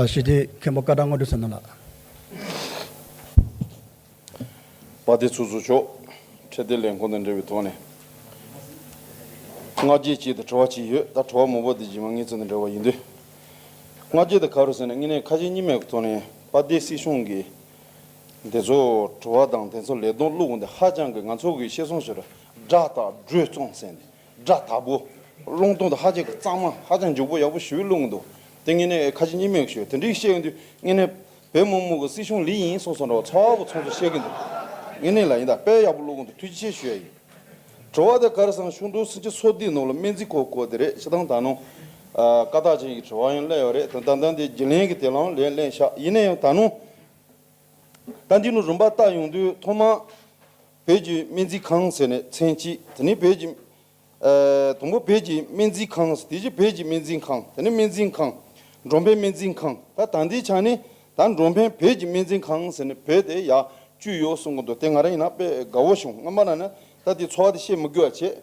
ཞི་བདེའི་མཁན་པོ་བཀའ་ཐང་དངོས་གྲུབ་བསོད་ནམས་ལགས། པ་དེ་ཚོ་ཚོ་ཆོག་འཕྲལ་བདེ་ལེགས་འཁོར་འདས་འདྲེ་བའི་ཐོག་ནས། སྔ་རྗེས་གཅིག་དང་བྲོ་བ་གཅིག་ཡོད་ད་བྲོ་བ་མོ་པོ་དེ་རྗེས་མ་ངེད་ཚོ་དང་འདྲ་བ་ཡིན་དུས། སྔ་རྗེས་དང་ག་རུ་ཟེར་ན་དངོས་གནས་ཁ་ཞེ་གཉིས་མེད་ཀྱི་ཐོག་ནས་པ་དེ་སྲིད་གཞུང་གིས། དེ་ཚོ་བྲོ་བ་དང་དེ་ཚོ་ལས་གདོང་བླུགས་འོང་དེ་ཧ་ཅང་གི་ང་ཚོ་གིས་ཤེས་སོང་ཟེར་རོ་སྒྲ་དང་སྒྲོས་བཙོང་ཟེར་ནས་སྒྲ་དག་པོ། རླུང་སྟོང་དང་ཧ་ཅང་གི་གཙང་མ་ཧ་ཅང་འཇུག་པོ་ཡག་པོ་ཞུས་རླུང་གི་འདུག་དེ་ངེད་ནས་ཁ་ཆེ་གཉིས་མེད་ཞུས་དེ་འདྲི་བཤད་གི་འདུག་ངེད་ནས་བོད་དམག་དམུ་གི་སྲིད་གཞུང་ལི་ཡིན་སོགས་སོགས་འདྲ་བ་ཚ་བོ་ཚོང་ཚོང་བཤད་གི་འདུག་ངེད་ནས་ལ་ཡིན་ད་དཔེ་ཡག་པོ་བླུག་གི་འདུག་ཐུགས་རྗེ་ཆེ་ཞུས་ཡ་ཡིན། དྲི་བ་དེ་གར་སང་ཤུག་འབྲུག་སྲིན་སྐྱི་ཚོ་འདིའི་ནང་ལ་སྨན་རྩིས་ཁོག་ཁོག་དེ་རེད་ཅི་དང་ད་ནང། བཀའ་རྟགས་ཅན་གྱི་དྲི་བ་ཡང་གླེང་ཡོད་རེད་དོན་ཏན་ཏན་དེ་དགེ་ལན་གྱི་དེ་ལའང་ལན་གླེང་ཤག་ཡིན་ནའང་ད་ནང། ད་འདི་ནང་རིམ་པ་བལྟ་ཡོང་དུས་ཐོག་མ། བོད་ཀྱི་སྨན་རྩིས་ཁང་ཟེར་ནས་མཚན་གཅིག་དེ་ནི་བོད་ཀྱི། དང་པོ་བོད་ཀྱི་སྨན་རྩིས་ཁང་དེ་རྗེས་བོད་ཀྱི་སྨན་རྩིས་ཁང་དེ་ནི་སྨན་རྩིས་ཁང། འབྲོང་བན་སྨན་རྩིས་ཁང་ད་ད་འདི་ཆ་ནི་ད་འབྲོང་བན་བོད་ཀྱི་སྨན་རྩིས་ཁང་ཟེར་ནས་བོད་དེ་ཡག་བཅུ་ཡོད་གསུང་གི་འདུག་དེ་ང་རང་ཡིན་ན་དཔེ་དགའ་བོ་བྱུང་སྔོན་མ་ན་ནི་ད་དེ་འཚོ་བ་དེ་བཤད་མི་དགོས་བ་བྱས།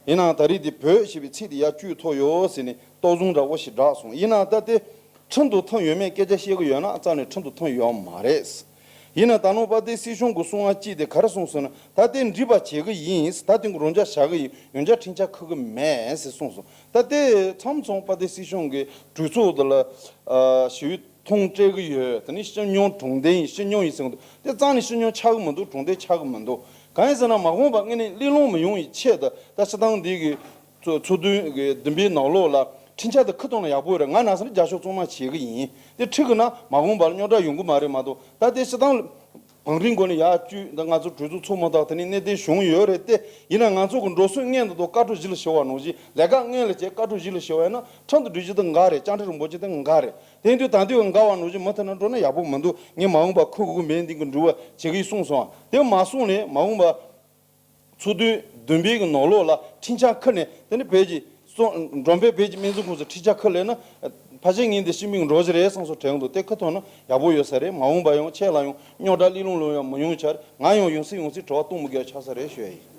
ཡིན་ནའང་ད་རིས་འདི་བོད་ཞེས་པའི་ཚིག་དེ་ཡར་བཅུས་ཐོ་ཡོ་ཟེར་ནས་ཏོག་ཟུང་འདྲ་བོ་ཞིག་བསྒྲགས་སོང་ཡིན་ནའང་ད་ལྟའི་ཁྲིམས་དུ་ཐོན་ཡོད་མེད་སྐད་ཆ་བཤད་གི་ཡོད་ན་རྩ་ནས་ཁྲིམས་དུ་ཐོན་ཡོད་མ་རེད། ཡིན་ནའང་ད་ནོར་པ་དེ་སྲིད་གཞུང་གི་སྲུང་བ་ཅིག་དེ་ག་རེ་གསུངས་སོང་ན་ད་ལྟའི་འདྲིས་པ་བྱེད་གི་ཡིན་ད་ལྟའི་འགུག་རོ་འཇག་བྱ་གི་ཡིན་ཡོན་ཆ་འཕྲིན་ཆ་འཁུར་གི་མེད་ཟེར་གསུངས་སོང་ད་ལྟའི་མཚམས་མཚུངས་པ་དེ་སྲིད་གཞུང་གི་གྲོས་ཚོགས་དེ་ལ་ཞི་བའི་ཐོངས་སྤྲད་གི་ཡོད་དེ་ནི་སྤྱི་སྙོམས་གྲོང་བརྡལ་ཡིན་སྤྱི་སྙོམས་ཡིན་ཟེར་གི་འདུག་དེ་རྩ་ནས་སྤྱི་སྙོམས་ཆགས་གི་མི་འདུག་གྲོང་བརྡལ་ཆགས་གི་མི་འདུག་གང་ཡིན་ཟེར་ན་མ་དགོངས་པ་ལྔས་ནི་གླེང་སློང་མི་ཡོང་བའི་ཆེད་དུ་ད་ཕྱི་ཐང་འདི་གི་ཚོགས་འདུ་བདུན་པའི་ནང་ལོགས་ལ་འཕྲིན་ཆ་དེ་ཁུ་གཏོང་ན་ཡག་པོ་རེད་ང་ནགས་ས་རི་རྒྱ་ཤོག་བཙོང་མ་བྱེད་གི་ཡིན་དེ་ཁྲིད་གི་ན་མ་དགོངས་པར་རྙོག་དྲ་ཡོང་གི་མ་རེད་མ་གཏོགས་ད་ལྟའི་ཕྱི་ཐང་བང་རིམ་སྒོ་ནས་ཡག་བཅུ་འདི་ང་ཚོ་གྲོས་ཚོགས་ཚོགས་མ་ཐག་དེ་ནས་གནད་དོན་བྱུང་ཡོད་རེད་དེ་ཡིན་ན་ང་ཚོ་གི་འགྲོ་སོན་ལྔས་འདི་ཐོག་བཀའ་བྲོ་བཞི་ལ་ཞི་བ་ནོར་བཞི་ལས་ཀ་ལྔས་ལ་བྱས་བཀའ་བྲོ་བཞི་ལ་ཞི་བ་ཡིན་ན་ཁྲང་དུ་འགྲུལ་བྱེད་དེ་འགའ་རེད་སྤྱང་ཁྲི་རིན་པོ་ཆེ་དེ་འགའ་རེད། དེང་དུས་དང་དུས་འགའ་བ་ནོར་གྱི་མུ་མཐུད་ན་འགྲོ་ན་ཡག་པོ་མི་འདུག་ངས་མ་འོངས་པ་ཁུ་གུ་མེད་འདིང་གི་འདུག་བ་ཇི་གི་གསུངས་སོང་དེ་མ་གསུངས་ནས་མ་འོངས་པ། ཚུར་དོན་བདུན་པའི་གི་ནོར་ལོག་ལ་འཕྲིན་ཆ་འཁུར་ནས་དེ་ནི་བལ་གྱི། འབྲོམ་བལ་བལ་གྱི་སྨན་རྫུན་ཁུངས་སུ་འཕྲིན་ཆ་འཁུར་ལེ་ན། ཕ་ཆེ་ངེད་འདི་ཤི་མིག་འགྲོ་གཞི་རེད་སངས་སོ་དྲན་གི་འདུག་དེ་ཁུ་ཐོག་ན་ཡག་པོ་ཡོད་ས་རེད་མ་འོངས་པ་ཡང་ཆད་ལ་ཡང་རྙོག་དྲ་གླི་ལུང་ལུང་ཡང་མི་ཡོང་ཆར་ང་ཡང་ཡོང་སྲིད་ཡོང་སྲིད་བྲོ་བ་སྟུང་མི་དགོས་ཆགས་ས་རེད་ཤོད་ཡིན།